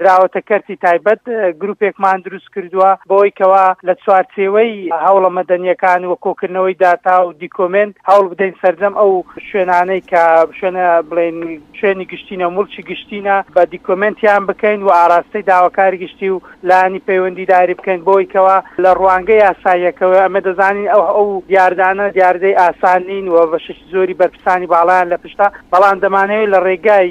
دراوەتە کەرتی تایبەت گروپێکمان دروست کردووە بۆی کەوا لە چوارچێوەی هەوڵە مەدەنیەکان و کۆکردنەوەی داتا و دیکۆمنت هەوڵ بدەین سرجەم ئەو شوێنانەی کە شوێنە بڵێن شوێنی گشتینە و مڵکی گشتینە بە دیکۆمنتیان بکەین و ئاراستەی داواکاری گشتی و لانی پەیوەندیداری بکەین بۆی کەوا لە ڕوانگە یاساییەکەوە ئەمە دەزانین ئەو ئەو دیاردانە دیاردەی ئاسانین و بەشێکی زۆری بەرپسانی باڵیان لە پشتا بەڵام دەمانەوەی لە ڕێگای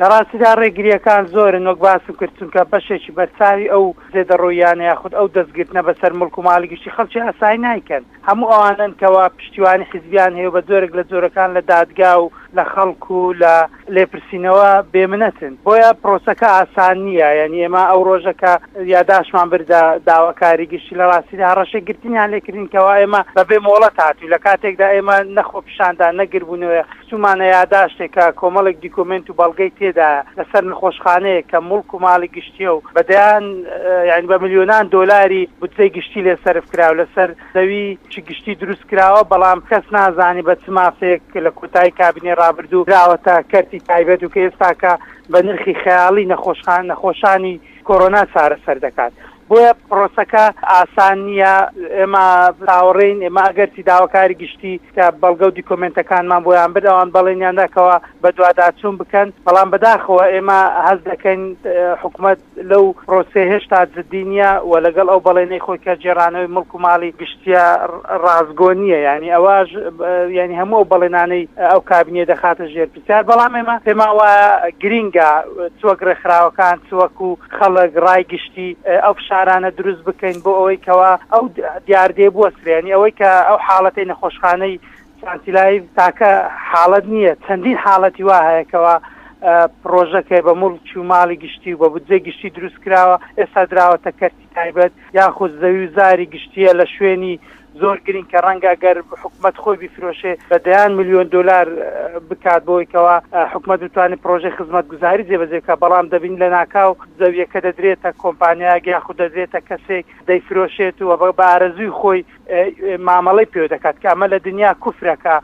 لە ڕاستیدا ڕێگرییەکان زۆرن وەک باسم کرد، چونکە بەشێکی بەرچاوی ئەو زێدەڕۆییانە یاخود ئەو دەستگرتنە بەسەر موڵک و ماڵی گشتی خەڵکی ئاسایی نایکەن، هەموو ئەوانەن کەوا پشتیوانی حیزبیان هەیە و بە جۆرێک لە جۆرەکان لە دادگا و لە خەڵک و لە لێپرسینەوە بێمنەتن، بۆیە پرۆسەکە ئاسان نییە، یانی ئێمە ئەو ڕۆژە کە یاداشمان بردە داواکاری گشتی لە ڕاستیدا هەڕەشەی گرتنیان لێکردین کەوا ئێمە بەبێ مۆڵەت هاتووین لە کاتێکدا ئێمە نە خۆپیشاندان نە گردبوونەوەی چوومانە یاداشتێک کە کۆمەڵێک دیکۆمێنت و بەڵگەی تێدایە لەسەر نەخۆشخانەیەک کە موڵک و ماڵی گشتییە و بە دەیان یانی بە ملیۆنان دۆلاری بودجەی گشتی لێ سەرف کراوە لەسەر زەوی چی گشتی دروست کراوە بەڵام کەس نازانێ بە چ مافێک لە کۆتایی کابینەی ڕابردوو دراوەتە کەرتی تایبەت و کە ئێستاکە بە نرخی خەیاڵی نەخۆشخانە نەخۆشانی کۆرۆنا چارەسەر دەکات. بۆیە پرۆسەکە ئاسان نییە، ئێمە چاوەڕێین، ئێمە ئەگەرچی داواکاری گشتی کە بەڵگە و دیکۆمێنتەکانمان بۆیان برد ئەوان بەڵێنیان دا کەوا بەدواداچوون بکەن، بەڵام بەداخەوە ئێمە هەست دەکەین حکومەت لەو پرۆسەیە هێشتا جددی نییە و لەگەڵ ئەو بەڵێنەی خۆی کە گێڕانەوەی مڵک و ماڵی گشتییە ڕاستگۆ نییە، یانی ئەواش یانی هەموو ئەو بەڵێنانەی ئەو کابینەیە دەخاتە ژێر جا بەڵام ئێمە پێمان وایە گرینگە چ وەک ڕێکخراوەکان چ وەکوو خەڵک ڕای گشتی ئەو فشارانە دروست بکەین بۆ ئەوەی کەوا ئەو دیاردەیە بوەسترێ یانی ئەوەی کە ئەو حاڵەتەی نەخۆشخانەی سانتیلای تاکە حاڵەت نییە چەندین حاڵەتی وا هەیە کەوا پڕۆژەکەی بە موڵکی و ماڵی گشتی و بە بودجەی گشتی دروست کراوە ئێستا دراوەتە کەرتی تایبەت یاخود زەوی و زاری گشتییە لە شوێنی زۆر گرنگ کە ڕەنگە گەر حکومەت خۆی بیفرۆشێ بە دەیان ملیۆن دۆلار بکات بۆی کەوا حکومەت بتوانێت پرۆژەی خزمەت گوزاری جێبەجێکە بەڵام دەبین لە ناکاو زەویەکە دەدرێتە کۆمپانیایەک یاخود دەدرێتە کەسێک دەیفرۆشێت و بە بارەزوی خۆی مامەڵەی پێوە دەکات کە ئەمە لە دنیا کوفرەکە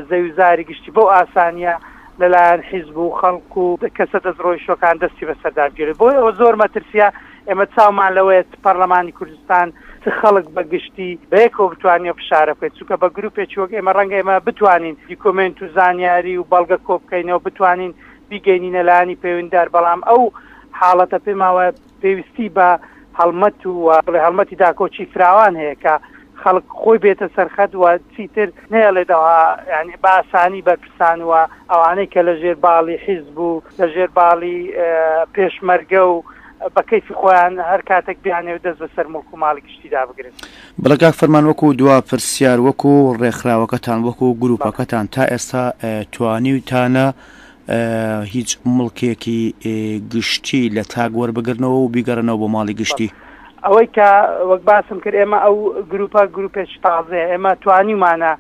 زەویزاری گشتی بەو ئاسانیە لەلایەن حیزب و خەڵک و کەسە دەست ڕۆیشتەکان دەستی بەسەرداگیرێت بۆی ئەوە زۆر مەترسیە ئێمە چاومان لەوەیە پەرلەمانی کوردستان چ خەڵک بە گشتی بەیەکەوە بتوانانی فشارە بکەیت چونکە بە گروپێکی وەک ئێمە ڕەنگە ئێمە بتوانین دیکۆمنت و زانیاری و بەڵگە کۆبکەینەوە بتوانین بیگەینی نەلانی پەیوەندار بەڵام ئەو حاڵەتە پێماوە پێویستی بە هەڵمەت و بڵێ هەڵمەتی داکۆکی فراوان هەیە کە خەڵک خۆی بێتە سەرخەت و چیتر نێڵێتەوە ینی باسانی بەرپرسان و ئەوانەی کە لە ژێر باڵی حیز بوو لە ژێر باڵی پێشمەرگە و بە کەیفی خۆیان هەر کاتێک بیانێ و دەست بەسەر مڵک و ماڵی گشتیدا بگرن بڵگاک فەرمان وەکو دوا پرسیار وەکو ڕێکخراوەکەتان وەکو گروپەکەتان تا ئێستا توانیوتانە هیچ مڵکێکی گشتی لە تاک وەربگرنەوە و بیگەڕنەوە بۆ ماڵی گشتی. ئەوەی کە وەک باسم کرد ئێمە ئەو گروپە گروپێکی تازەیە ئێمە توانیمانە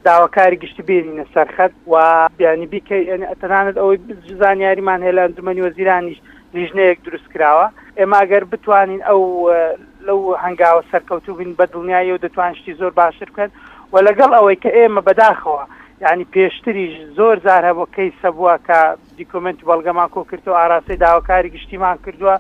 داواکاری گشتی بێنینە سەرخەت و بیانی بیکەی تەنانەت ئەوەی زانیاریمان هەیە لە ئەنجومەنی وەزیرانیش لیژنەیەک دروست کراوە ئێمە ئەگەر بتوانین ئەو لەو هەنگاوە سەرکەوتوو بین بە دڵنیاییەوە دەتوان شتی زۆر باشتر بکەن و لەگەڵ ئەوەی کە ئێمە بەداخەوە یعنی پێشتریش زۆر زار هەبوو کەیسە بووە کە دیکۆمنت بەڵگەمان کۆ کردو ئاراستەی داواکاری گشتیمان کردووە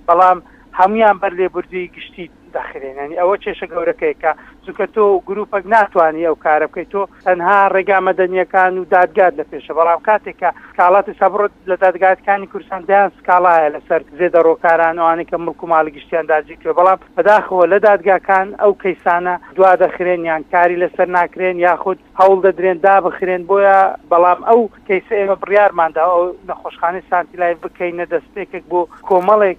بەڵام هەمویان بەر لێبوردوی گشتی داخرێنانی ئەوە کێشە گەورەکەی کە چونکە تۆ گروپەک ناتوانانی ئەو کارە بکەیت تۆ تەنها ڕێگا مەدەنیەکان و دادگات لە پێشە بەڵام کاتێکە کاڵاتی سابڕت لە دادگاتکانی کورسان دەیان سکاڵایە لەسەر زێدە ڕۆکاران ئەوانەی کە مڵک و ماڵی گشتیان داگیر کرد بەڵام بەداخەوە لە دادگاکان ئەو کەیسانە دوا دەخرێن یان کاری لەسەر ناکرێن یاخود هەوڵ دەدرێن دابخرێن بۆیە بەڵام ئەو کەیسە ئێمە بڕیارماندا ئەو نەخۆشخانەی سانتی لای بکەینە دەستپێکێک بۆ کۆمەڵێک